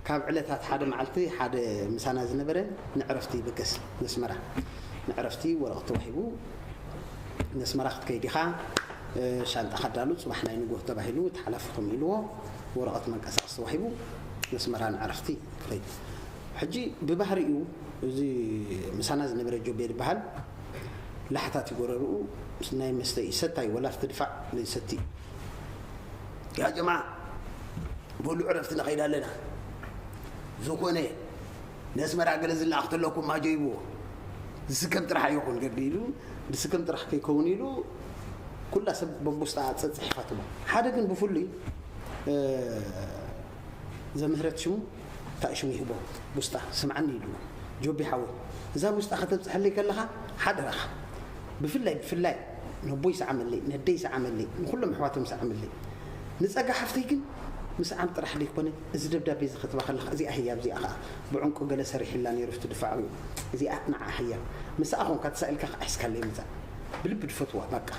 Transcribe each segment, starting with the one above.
ካብ ዕለታት ሓደ መዓልቲ ሓደ ምሳና ዝነበረ ንዕረፍቲ ይብገስ ነስመራ ንዕረፍቲ ወረቕት ተዋሂቡ ነስመራ ክትከይድ ኢኻ ሻንጣኻ ኣዳሉ ጽባሕ ናይ ንጎህ ተባሂሉ እቲ ሓላፊኹም ኢልዎ ወረቐት መንቀሳቐሲ ተዋሂቡ ነስመራ ንዕረፍቲ ክኸይድ ሕጂ ብባህሪኡ እዚ ምሳና ዝነበረ ጆቤ ዝበሃል ላሕታት እዩ ጎረርኡ ናይ መስተ እዩ ሰታይ ወላ ክትድፋዕ ዘይሰቲ እዩ ያ ጀማዓ በሉ ዕረፍቲ ንኸይድ ኣለና ዝኾነ ነስመራ ገለ ዝለኣኽ ተለኩም ኣጀይብዎ ዝስከም ጥራሕ ኣይኹን ገዲዱ ዝስከም ጥራሕ ከይከውን ኢሉ ኩላ ሰብ በጉስታ ፀፅሒኻ ትቦ ሓደ ግን ብፍሉይ ዘምህረት ሽሙ እንታይ ሽሙ ይህቦ ጉስጣ ስምዓኒ ኢሉ ጆቢ ሓወ እዛ ጉስጣ ከተብፅሐለይ ከለኻ ሓደራኻ ብፍላይ ብፍላይ ነቦይ ሰዓመለይ ነደይ ሰዓመለይ ንኩሎም ኣሕዋቶም ሰዓመለይ ንጸጋ ሓፍተይ ግን ምስዓም ጥራሕ ደይኮነ እዚ ደብዳቤ ዝከትባ ከለካ እዚኣ ህያብ እዚኣ ከኣ ብዑንቁ ገለ ሰሪሒላ ነይሩ ኣብቲ ድፋዕኡ እዚኣ ንዓ ህያብ ምሳኣ ኮንካ ተሳኢልካ ከኣ ሒዝካለይ ምጻእ ብልቢ ድፈትዋ ባቃ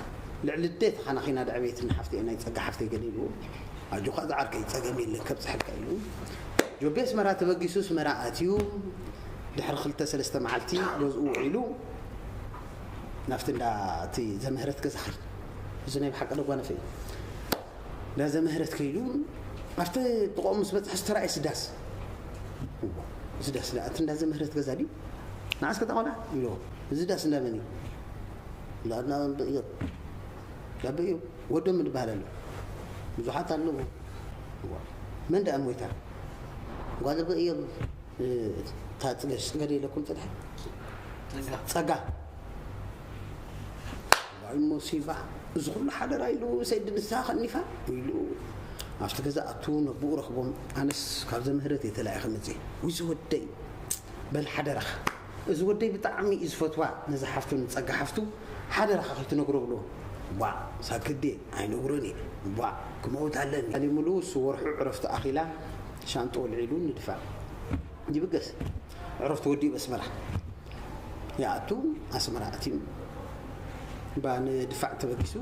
ልዕሊ ኣደይ ተካናኪና ደዕበየትኒ ሓፍተይ ናይ ጸጋ ሓፍተይ ገለ ኢልዎ ኣጆካ ዝዓርከይ ጸገም የለን ከብጽሐልካ ኢሉ ጆቤ ኣስመራ ተበጊሱ ኣስመራ ኣትዩ ድሕሪ ክልተ ሰለስተ መዓልቲ ገዝኡ ውዒሉ ናብቲ እንዳ እቲ ዘምህረት ገዛ ከይዱ እዚ ናይ ብሓቂ ደጓነፈ እዩ እንዳ ዘምህረት ከይዱ ኣብቲ ጥቆም ምስ በፅሐ ዝተራእየ ስዳስ ስዳስ እቲ እንዳ ዘምህረት ገዛ ድዩ ንዓስ ከተቆልዓ ኢልዎ እዚ ዳስ እንዳ መን እዩ ዳና ብእዮብ ዳበ እዩ ወዶም ዝበሃል ኣሎ ብዙሓት ኣለዎ መን ዳኣ ሞይታ ጓል በእዮብ እታ ፅገሽ ፅገደ ኢለኩም ፅንሐ ፀጋ ዋይ ሞሲባ እዚ ኩሉ ሓደራ ኢሉ ሰይዲ ንስኻ ከኒፋ ኢሉ ኣብቲ ገዛ ኣቱ ነብኡ ረኽቦም ኣነስ ካብ ዘምህረት እየ ተላኢኸ መፅ ውይ ዝወደይ በል ሓደራኻ እዚ ወደይ ብጣዕሚ እዩ ዝፈትዋ ነዚ ሓፍቱ ንፀጋ ሓፍቱ ሓደራኻ ከይትነግሮ ብሎ ቧ ሳክዴ ኣይነግሮን እየ ቧ ክመውት ኣለኒ ኣሊ ሙሉ እሱ ወርሑ ዕረፍቱ ኣኺላ ሻንጥኡ ኣልዒሉ ንድፋዕ ይብገስ። ዕረፍቱ ወዲኡ ኣስመራ ይኣቱ። ኣስመራ ኣትዩ እባ ንድፋዕ ተበጊሱ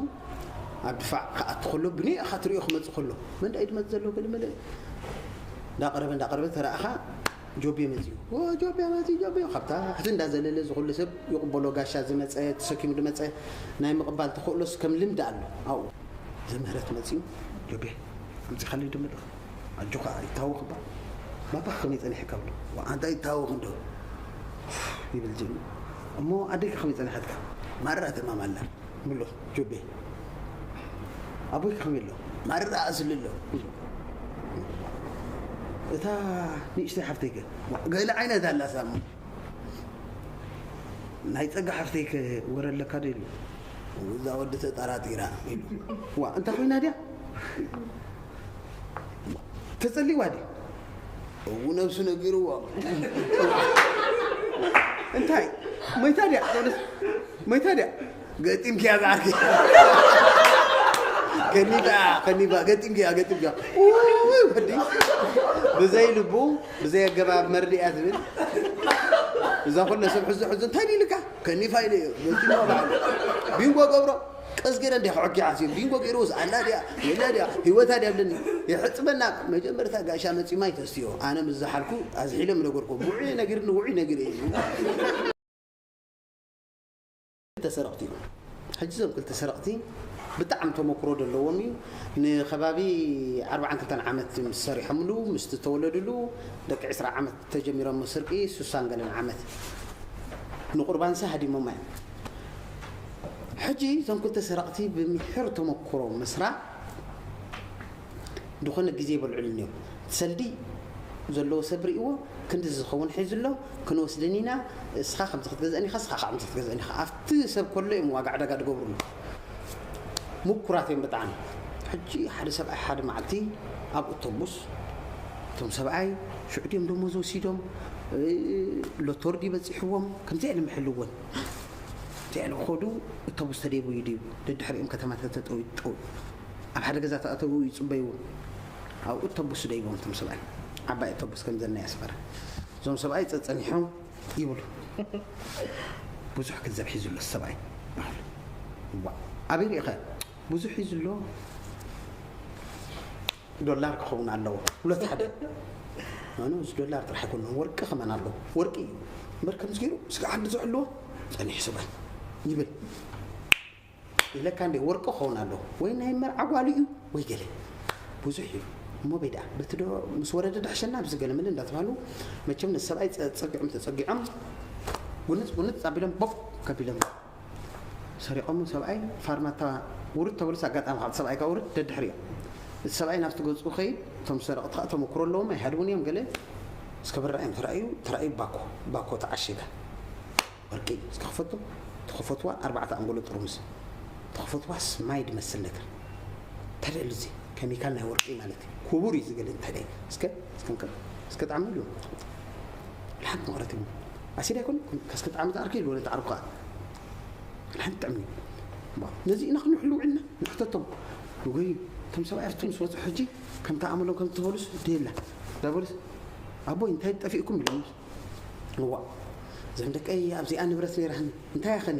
ኣብ ድፋዕ ክኣቱ ከሎ ብኒእኻ ትሪኦ ክመፅእ ከሎ መንዳ እዩ ድመፅ ዘሎ ገለመለ እንዳቀረበ እንዳቀረበ ተረእኻ ጆቤ መፅኡ ጆቤ መፅኡ ጆቤ ካብታ ሕዚ እንዳዘለለ ዝኩሉ ሰብ ይቕበሎ ጋሻ ዝመፀ ተሰኪሙ ድመፀ ናይ ምቕባል ተኽእሎስ ከም ልምዲ ኣሎ ኣብኡ ዘምህረት መፅኡ ጆቤ ኣምፂኻለይ ድምልኽ ኣጆካ ኣይታወክ እባ ባባካ ከመይ ጸኒሕካ እብሎ ዋእ ኣንታ ኣይታወክ እንዶ ኡፍ ይብል ጅግና እሞ ኣደይካ ከመይ ጸኒሓትካ ማራ ተማም ኣላ ምሎ ጆቤ ኣቦይካ ከመይ ኣሎ ማራ ኣስሊ ኣሎ ይብል እታ ንእሽተይ ሓፍተይከ ገለ ዓይነት ኣላ ሳሙ ናይ ፀጋ ሓፍተይከ ወረ ኣለካ ዶ ኢሉ እዛ ወዲ ተጠራጢራ ኢሉ ዋ እንታይ ኮይና ድያ ተጸሊዋ ድዩ እው ነብሱ ነጊርዎ እንታይ ሞይታ ድያ ዞንስ ሞይታ ድያ ገጢምክያ ዝዓርኪ ከኒባ ከኒባ ገጢምክያ ገጢምክያ ውይ ወዲ ብዘይ ልቡ ብዘይ ኣገባብ መርድእያ ዝብል እዛ ኩለ ሰብ ሕዞ ሕዞ እንታይ ኢልካ ከኒፋ ኢለ ገጢምዋ በዓል ቢንጎ ገብሮ ቀስ ገይረ እንዲያ ክዕጊዓ ዝብል ቢንጎ ገይርዎ ዝኣላ ድያ የላ ድያ ህይወታ ድያ ብለኒ የሕፅበና መጀመርታ ጋሻ መፂ ማይ ተስትዮ ኣነ ምስ ዝሓልኩ ኣዝሒለ ምነገርኩ ውዑይ ነጊር ንውዑይ ነጊር እዩ ክልተ ሰረቕቲ እዮም ሕጂ እዞም ክልተ ሰረቕቲ ብጣዕሚ ተመክሮ ዘለዎም እዩ ንከባቢ ዓርባዓን ክልተን ዓመት ምስ ሰሪሖምሉ ምስቲ ተወለድሉ ደቂ ዕስራ ዓመት ተጀሚሮሞ ስርቂ ስሳን ገለን ዓመት ንቁርባንሰ ሃዲሞማ እዮም ሕጂ እዞም ክልተ ሰረቅቲ ብምሒር ተመኩሮ ምስራ ድኾነ ግዜ ይበልዑሉ እኒኦ ሰልዲ ዘለዎ ሰብ ሪእዎ ክንዲ ዝኸውን ሒዙ ኣሎ ክንወስደን ኢና እስኻ ከምዚ ክትገዝአን ኢኻ እስኻ ከምዚ ክትገዝአን ኢኻ ኣብቲ ሰብ ከሎ እዮም ዋጋ ዕዳጋ ድገብሩሉ ምኩራት እዮም ብጣዕሚ ሕጂ ሓደ ሰብኣይ ሓደ መዓልቲ ኣብ ኦቶቡስ እቶም ሰብኣይ ሽዑ ድዮም ደሞዝ ወሲዶም ሎቶር ድዩ በፂሕዎም ከምዚ ኣኢሎም ይሕልዎን ከምዚ ኣኢሎም ኸዱ እቶቡስ ተደይቡ እዩ ድዩ ደድሕሪኦም ከተማ ተተጠው ጠው ኣብ ሓደ ገዛ ተኣተው ይፅበይዎም ኣብ እቶቡስ ደይቦም እቶም ሰብኣይ ዓባይ እቶቡስ ከምዘና የስፈረ እዞም ሰብኣይ ፀፀኒሖም ይብሉ ብዙሕ ገንዘብ ሒዙ ኣሎ ሰብኣይ ዋእ ኣበይ ሪኢኸ ብዙሕ ሒዙ ኣሎ ዶላር ክኸውን ኣለዎ ሁለት ሓደ ኣነ እዚ ዶላር ጥራሕ ኣይኮነ ወርቂ ከመን ኣለዎ ወርቂ እዩ እምበር ከምዚ ገይሩ ስጋ ዓዲ ዝሕልዎ ጸኒሑ ሰብኣይ ይብል ኢለካ እንዴ ወርቂ ክኸውን ኣለዎ ወይ ናይ መርዓ ጓሉ እዩ ወይ ገለ ብዙሕ እዩ እሞ በይ ደኣ በቲ ዶ ምስ ወረደ ድሕሸና ኣብዚ ገለ መለ እንዳተባህሉ መቸም ነዚ ሰብኣይ ጸጸጊዖም ተጸጊዖም ጉንጽ ጉንጽ ኣቢሎም ቦብ ከቢሎም ሰሪቖም ሰብኣይ ፋርማታ ውርድ ተበሉስ ኣጋጣሚ ካብ ሰብኣይ ካብ ውርድ ደድሕሪ እዮም እቲ ሰብኣይ ናብቲ ገጹ ከይድ እቶም ሰረቕቲ ከዓ ተመክሮ ኣለዎም ኣይሃድውን እዮም ገለ እስከ ብራ እዮም ተራእዩ ተራእዩ ባኮ ባኮ ተዓሽጋ ወርቂ እስከ ክፈቱ ተኸፈትዋ ኣርባዕተ ኣንጎሎ ጥርሙስ ተኸፈትዋስ ማይ ድመስል ነገር እንታይ ደሉ እዚ ኬሚካል ናይ ወርቂ ማለት እዩ ክቡር እዩ ዝገለ እንታይ ደዩ እስከ እስከ እንከ እስከ ጣዕሚ ሉ ሓንቲ መቕረት ይብሉ ኣሲድ ኣይኮን እስከ ጣዕሚ ዝዓርኪ ይብሉ ነቲ ዓርኩ ከዓ ሓንቲ ጥዕሚ ነዚ ኢና ክንሕሉ ውዕልና ንሕተቶም ወይ እቶም ሰብኣይ ኣርቱ ምስ ወፁ ሕጂ ከምቲ ኣመሎም ከም ትበሉስ ደየላ ዳበሉስ ኣቦይ እንታይ ጠፊእኩም ኢሎም እዋእ ዘም ደቀይ ኣብዚኣ ንብረት ነይራህን እንታይ ኣኸኒ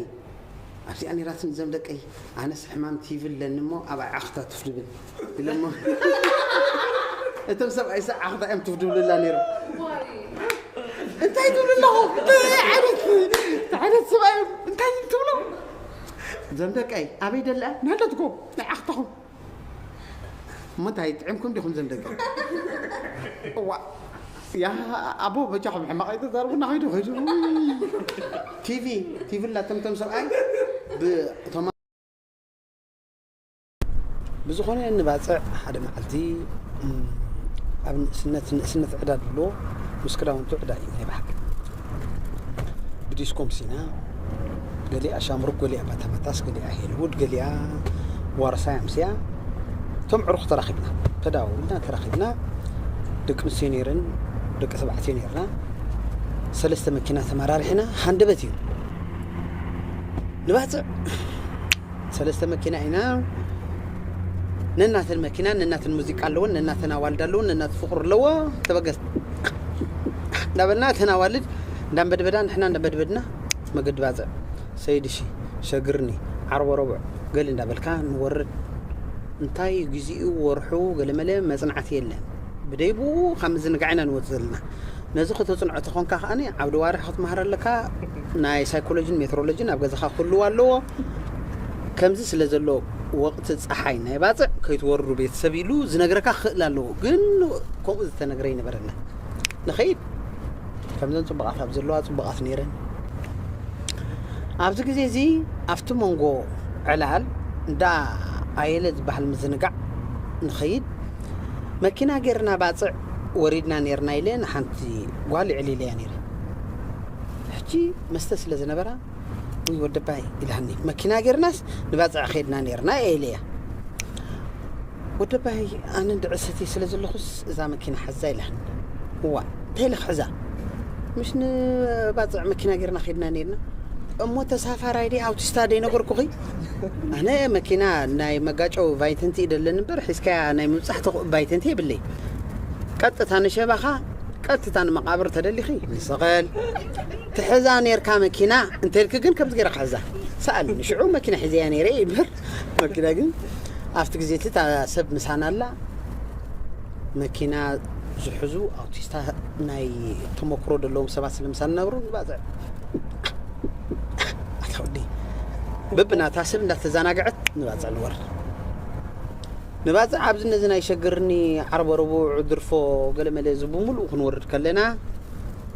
ኣብዚኣ ነይራትኒ ዘም ደቀይ ኣነስ ሕማም ቲቪ ኣለኒ እሞ ኣብ ዓኽታ ትፍ ድብል ኢለሞ እቶም ሰብኣይ ሰ ዓኽታ እዮም ትፍ ድብልላ ነይሮም እንታይ ትብሉ ኣለኹም ዓይነት ዓይነት ሰብኣይ እዮም እንታይ ትብሉ ዘም ደቀይ ኣበይ ደላ ናለትኩም ናይ ዓኽታኹም ምንታይ ጥዒምኩም ዲኹም ዘም ደቂ እዋ ያ ኣቦ በጃኹም ሕማቕ ኣይተዛርቡና ከይዱ ከይዱ ቲቪ ቲቪ ላ ተምቶም ሰብኣይ ብእቶም ብዝኾነ ንባፅዕ ሓደ መዓልቲ ኣብ ንእስነት ንእስነት ዕዳ ድሎ ምስ ክዳውንቱ ዕዳ እዩ ናይ ባሓቂ ብዲስኮም ሲና ገሊኣ ሻምሩክ ገሊኣ ባታባታስ ገሊኣ ሄልውድ ገሊኣ ዋርሳይ ኣምስያ እቶም ዕሩኽ ተራኺብና ተዳውልና ተራኺብና ደቂ ኣንስትዮ ነይረን ደቂ ተባዕትዮ ነይርና ሰለስተ መኪና ተመራርሒና ሃንደበት እዩ ንባፅዕ ሰለስተ መኪና ኢና ነናተን መኪና ነናተን ሙዚቃ ኣለወን ነናተን ኣዋልድ ኣለወን ነናት ፍቅሩ ኣለዎ ተበገስ እንዳበልና እተን ኣዋልድ እንዳንበድበዳ ንሕና እንዳንበድበድና መገዲ ባፅዕ ሰይድሺ ሸግርኒ ዓርቦ ረቡዕ ገሊ እንዳበልካ ንወርድ እንታይ እዩ ግዜኡ ወርሑ ገለመለ መፅናዕቲ የለን ብደይ ብኡ ካብ ምዝንጋዕ ኢና ንወፅ ዘለና ነዚ ከተፅንዖ ተኾንካ ከዓኒ ዓብዲ ዋርሒ ክትመሃር ኣለካ ናይ ሳይኮሎጂን ሜትሮሎጂን ኣብ ገዛኻ ክህልው ኣለዎ። ከምዚ ስለ ዘሎ ወቕቲ ፀሓይ ናይ ባፅዕ ከይትወርዱ ቤተሰብ ኢሉ ዝነግረካ ክኽእል ኣለዎ። ግን ከምኡ ዝተነግረ ይነበረና ንኸይድ ከምዘን ፅቡቓት ኣብ ዘለዋ ፅቡቓት ነይረን ኣብዚ ግዜ እዚ ኣብቲ መንጎ ዕላል እንዳ ኣየለ ዝበሃል ምዝንጋዕ ንኸይድ መኪና ጌርና ባፅዕ ወሪድና ነርና ኢለ ንሓንቲ ጓል ዕሊለያ ነይረ ሕጂ መስተ ስለ ዝነበራ ውይ ወደባይ ኢላኒ መኪና ጌርናስ ንባጽዕ ኼድና ኔርና ኤልያ ወደባይ ኣነ እንድዒ ሰትየ ስለ ዘለኹስ እዛ መኪና ሓዛ ኢላኒ እዋእ እንታይ ኢለ ክሕዛ ምስ ንባጽዕ መኪና ጌርና ኼድና ኔርና እሞ ተሳፋራይ ዲ ኣውቲስታ ደይ ነገርኩኺ ኣነ መኪና ናይ መጋጨው ቫይተንቲ ደለኒ እምበር ሒዝካያ ናይ ምብጻሕ ተኽእ ቫይተንቲ የብለይ ቀጥታ ንሸባኻ ቀጥታ ንመቓብር ተደሊኺ ንሰቐል ትሕዛ ኔርካ መኪና እንተልኪ ግን ከምዚ ጌራ ክሕዛ ሰኣል ንሽዑ መኪና ሒዘያ ነይረ ይብህር መኪና ግን ኣብቲ ግዜ እቲ እታ ሰብ ምሳና ኣላ መኪና ዝሕዙ ኣውቲስታ ናይ ተሞክሮ ዘለዎም ሰባት ስለምሳና ነብሩ ንባፅዕ ኣታወዲ በብናታ ሰብ እንዳተዘናግዐት ንባፅዕ ንወርድ ንባጽዕ ኣብዚ ነዚ ናይ ሸግርኒ ዓርበ ረቡዕ ድርፎ ገለ መለ እዚ ብምሉኡ ክንወርድ ከለና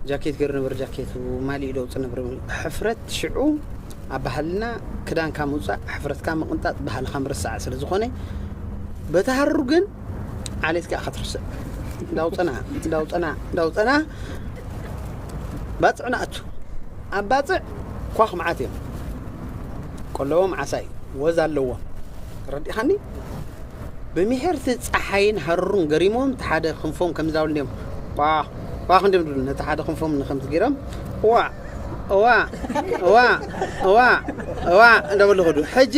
ጃኬት ገሩ ነበር ጃኬቱ ማሊኡ ለውጢ ነበር ሕፍረት ሽዑ ኣብ ባህልና ክዳንካ ምውጻእ ሕፍረትካ ምቕንጣጥ ባህልኻ ምርሳዕ ስለ ዝኾነ በቲ ሃሩ ግን ዓሌት ከኣ ከትርስዕ ዳውጠና ዳውጠና ዳውጠና ባጽዕ ንኣቱ ኣብ ባጽዕ ኳኽ መዓት እዮም ቆለቦም ዓሳ እዩ ወዝ ኣለዎም ተረዲእኻኒ? ብሚሒርቲ ጸሓይን ሃሩርን ገሪሞም እቲ ሓደ ክንፎም ከምዚ ዳብሉ እንዲዮም ቋቕ ቋቕ እንዲዮም ድብሉ ነቲ ሓደ ክንፎም ንከምቲ ገይሮም እዋእ እዋእ እዋእ እዋእ እዋእ እንዳበሉ ኸዱ። ሕጂ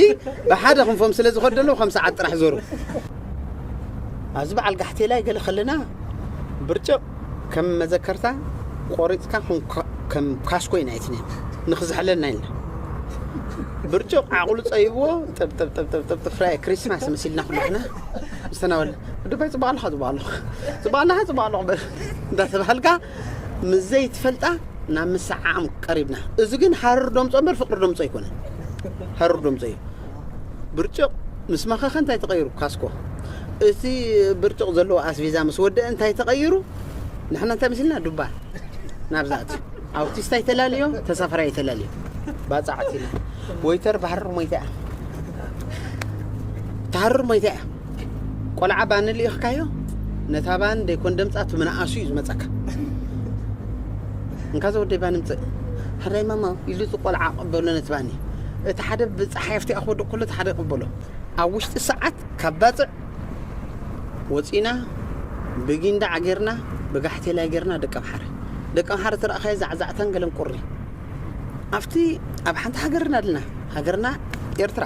ብሓደ ክንፎም ስለ ዝኸዱ ዘለዉ ከም ሰዓት ጥራሕ ዞሩ። ኣብዚ በዓል ጋሕቴላይ ገለ ከለና ብርጭቕ ከም መዘከርታ ቆሪጽካ ከም ካስኮይ ናይቲ ኔት ንክዝሕለልና ኢልና ብርጭቕ ዓቕሉ ጸይብዎ ጥብጥብጥብጥብጥብ ፍራይ ክሪስማስ መሲልና ኩሉ ሕና ዝተናበለ ድባይ ጽቡቕ ኣለኻ ጽቡቕ ኣለኹ ጽቡቕ ኣለኻ ጽቡቕ ኣለኹ በል እንዳተባሃልካ ምስ ዘይትፈልጣ ናብ ምስዓም ቀሪብና እዚ ግን ሃርር ዶምጾ እምበር ፍቅሪ ዶምጾ ኣይኮነን ሃርር ዶምጾ እዩ ብርጭቕ ምስ መኸኸ እንታይ ተቐይሩ? ካስኮ እቲ ብርጭቕ ዘለዎ ኣስቪዛ ምስ ወደአ እንታይ ተቐይሩ? ንሕና እንታይ መሲልና ዱባ ናብዛ ኣትዩ ኣውቲስታ ይተላልዮ ተሳፈራ ይተላልዮ ባፃዕት ኢና ወይተር ባህርር ሞይታ እያ ተሃርር ሞይታ እያ ቆልዓ ባኒ ልኢኽካዮ ነታ ባኒ ደይኮን ደምፃ እቲ ምንኣሱ እዩ ዝመፀካ እንካ ዘወደይ ባኒ ምፅእ ሓዳይ ማማ ኢሉ እቲ ቆልዓ ቅበሎ ነቲ ባኒ እቲ ሓደ ብፀሓይ ኣብቲኣ ክወድቕ ከሎ እቲ ሓደ ይቕበሎ ኣብ ውሽጢ ሰዓት ካብ ባፅዕ ወፂና ብጊንዳ ዓጌርና ብጋሕቴላይ ጌርና ደቂ ኣምሓረ ደቂ ኣምሓረ ተረእኻዮ ዛዕዛዕታን ገለን ቁሪ ኣብቲ ኣብ ሓንቲ ሃገርና ኣለና ሃገርና ኤርትራ